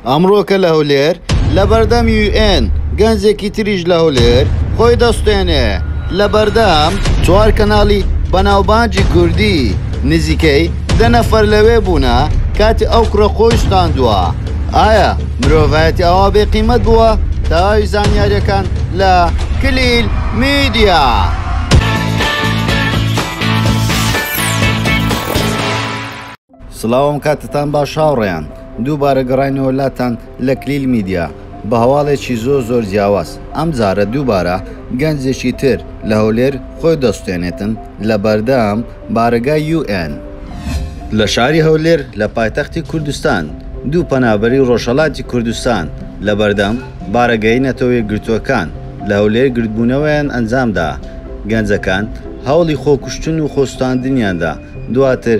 ئەمڕۆکە لە هەولێر لەبەردەم یو ئێن گەنجێکی تریش لە هەولێر خۆی دەسوتێنێ لەبەردەم چوار کەناڵی بەناوبانجی کوردی نزیکەی دە نەفەر لەوێ بوونە کاتی ئەو کوڕە خۆی سوتاندووە ئایا مرۆڤایەتی ئاوا بێ قیمەت بووە تەواوی زانیاریەکان لە کلیل میدیا. سڵاوم کاتتان باش هاوڕێیان دووبارە گەڕاینەوە لاتان لە کلیل میدیا بە هەواڵێکی زۆر زۆر جیاواز ئەم جارە دووبارە گەنجێکی تر لە هەولێر خۆی دەسوتێنێتن لە بەردەم بارەگای یو ئێن لە شاری هەولێر لە پایتەختی کوردستان دوو پەنابەری ڕۆژهەڵاتی کوردستان لە بەردەم بارەگای نەتەوە یەکگرتووەکان لە هەولێر گردبوونەوەیان ئەنجامدا گەنجەکان هەوڵی خۆکوشتن و خۆسوتاندنیاندا دواتر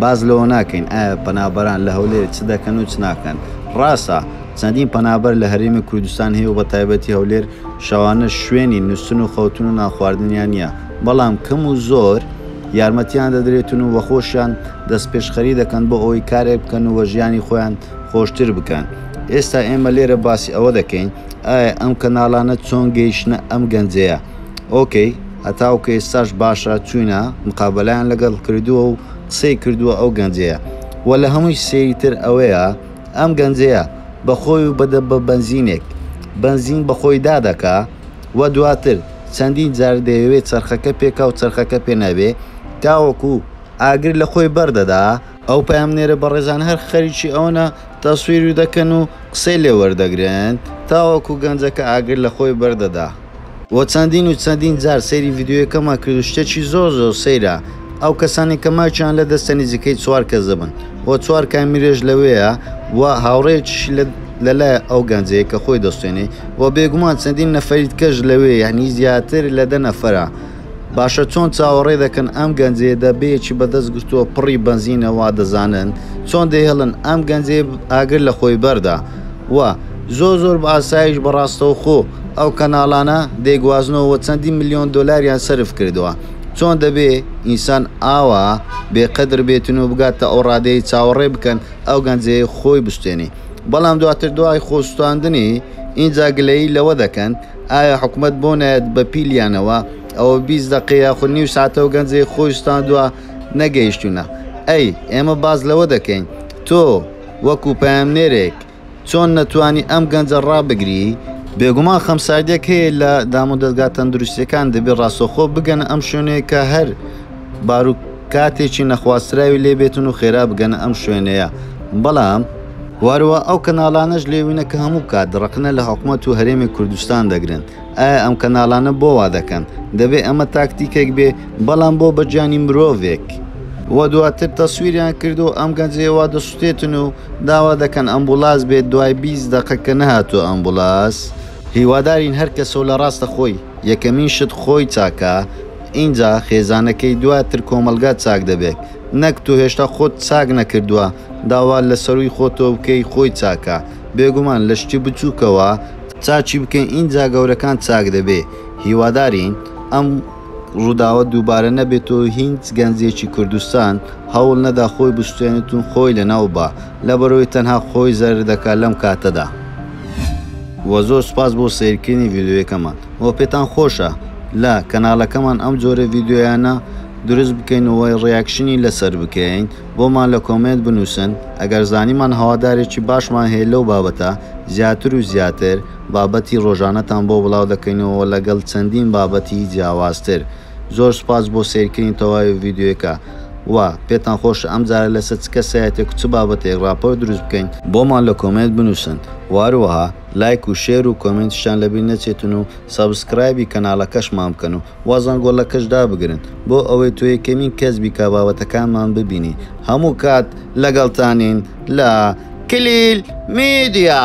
باس لەوە ناکەین ئایا پەنابەران لە هەولێر چ دەکەن و چ ناکەن، ڕاستە چەندین پەنابەر لە هەرێمی کوردستان هەیە و بەتایبەتی هەولێر شەوانە شوێنی نوستن و خەوتن و نانخواردنیان نییە، بەڵام کەم و زۆر یارمەتیان دەدرێتن و بەخۆشیان دەستپێشخەری دەکەن بۆ ئەوەی کارێک بکەن و ژیانی خۆیان خۆشتر بکەن، ئێستا ئێمە لێرە باسی ئەوە دەکەین ئایا ئەم کەناڵانە چۆن گەیشتنە ئەم گەنجەیە، ئۆکەی. هەتاوکە ئێستاش باشە چوینە مقابەلەیان لەگەڵ کردووە و قسەی کردووە ئەو گەنجەیە وە لە هەمووی سەیر تر ئەوەیە ئەم گەنجەیە بە خۆی و بە بە بەنزینێک بەنزین بە خۆی دا دەکا وە دواتر چەندین جار دەیەوێ چەرخەکە پێکا و چەرخەکە پێ نەبێ تاوەکو ئاگر لە خۆی بەر دەدا ئەو پەیامنێرە بەڕێزانە هەر خەریکی ئەوەنە تەسویری دەکەن و قسەی لێ وەردەگرن تاوەکو گەنجەکە ئاگر لە خۆی بەر دەدا و چەندین و چەندین جار سەیری ڤیدیۆیەکەمان کرد و شتێکی زۆر زۆر سەیرە ئەو کەسانەی کە مایکیان لە دەستە نیزیکەی چوار کەس دەبن و چوار کامیرەش لەوێیە و هاوڕێیەکیشی لە لەلایە ئەو گەنجەیە کە خۆی دەسوتێنێ و بێگومان چەندین نەفەری دکەش لەوێ یەعنی زیاتر لە دە نەفەرە باشە چۆن چاوەڕێ دەکەن ئەم گەنجێ دەبێکی بەدەست گرتووە پڕی بەنزینە وا دەزانن چۆن دەهێڵن ئەم گەنجێ ئاگر لە خۆی بەردا و زۆر زۆر بە ئاسایش بەڕاستەو خۆ ئەو کەناڵانە دەیگوازنەوە چەندی ملیۆن دۆلاریان سرف کردووە چۆن دەبێ ئینسان ئاوا بێقدر بێتن و بگاتە ئەو ڕادەی چاوەڕێ بکەن ئەو گەنجێ خۆی بستێنی بەڵام دواتر دوای خۆستاندنی ئینجا گلەیی لەوە دەکەن ئایا حکومەت بۆ نایەت بە پیلیانەوە ئەوە بیست دەقە یاخود نیو ساتەو گەنجێک خۆی سوتاندوە نەگەیشتونە ئەی ئێمە باس لەوە دەکەین تۆ وەکو پەیامنێرێک چۆن نەتوانی ئەم گەنجە ڕابگری بێگومان خەمساردیەک هەیە لە دامودەزگا تەندروستیەکان دەبێت ڕاستەوخۆ بگەنە ئەم شوێنەی کە هەر باروک کاتێکی نەخوازراوی لێ بێتن و خێرا بگەنە ئەم شوێنەیە بەڵام واروا ئەو کەناڵانەش لێوینە کە هەموو کات ڕەقنە لە حکومەت و هەرێمی کوردستان دەگرن ئایا ئەم کەناڵانە بۆ وا دەکەن دەبێ ئەمە تاکتیکێک بێ بەڵام بۆ بە گیانی مرۆڤێک و دواتر تەسویریان کردوە ئەم گەنجەی وا دەسوتێتن و داوا دەکەن ئەمبوڵاس بێت دوای بیست دەقە کە نەهاتوە ئەمبوڵاس. هیوادارین هەر کەسەو لە ڕاستە خۆی یەکەمین شت خۆی چاکا ئینجا خێزانەکەی دوا تر کۆمەڵگا چاک دەبێت نەک تۆ هێشتا خۆت چاک نەکردوە داوا لە سەروی خۆتەوە بکەی خۆی چاکا بێگومان لە شتی بچوکەوە چاکی بکەی ئینجا گەورەکان چاک دەبێ هیوادارین ئەم ڕووداوە دووبارە نەبێت و هیچ گەنجێکی کوردستان هەوڵ نەدا خۆی بشکێنێت و خۆی لەناو با، لەبەرئەوەی تەنها خۆی زەرەر دەکات لەم کاتەدا. وە زۆر سوپاس بۆ سەیرکردنی ڤیدیۆیەکەمان وە پێتان خۆشە لە کەناڵەکەمان ئەم جۆرە ڤیدیۆیانە دروست بکەین و ڕیاکشنی لەسەر بکەین بۆمان لە کۆمێنت بنووسن ئەگەر زانیمان هەوادارێکی باشمان هەیە لەو بابەتە زیاتر و زیاتر بابەتی ڕۆژانەتان بۆ بڵاو دەکەینەوە لەگەڵ چەندین بابەتی جیاوازتر زۆر سوپاس بۆ سەیرکردنی تەواوی ڤیدیۆیەکە و پێتان خۆشە ئەم جارە لەسەر چ کەسایەتێک و چ بابەتێک ڕاپۆرت دروست بکەین بۆمان لە کۆمێنت بنووسن و هەروەها لایک و شێر و کۆمێنتیشتان لەبیر نەچێتن و سەبسکرایبی کەناڵەکەشمان بکەن و و زەنگۆڵەکەش دابگرن بۆ ئەوەی تۆ یەکەمین کەس بی کە بابەتەکانمان ببینی هەموو کات لەگەڵتانین لە کلیل میدیا.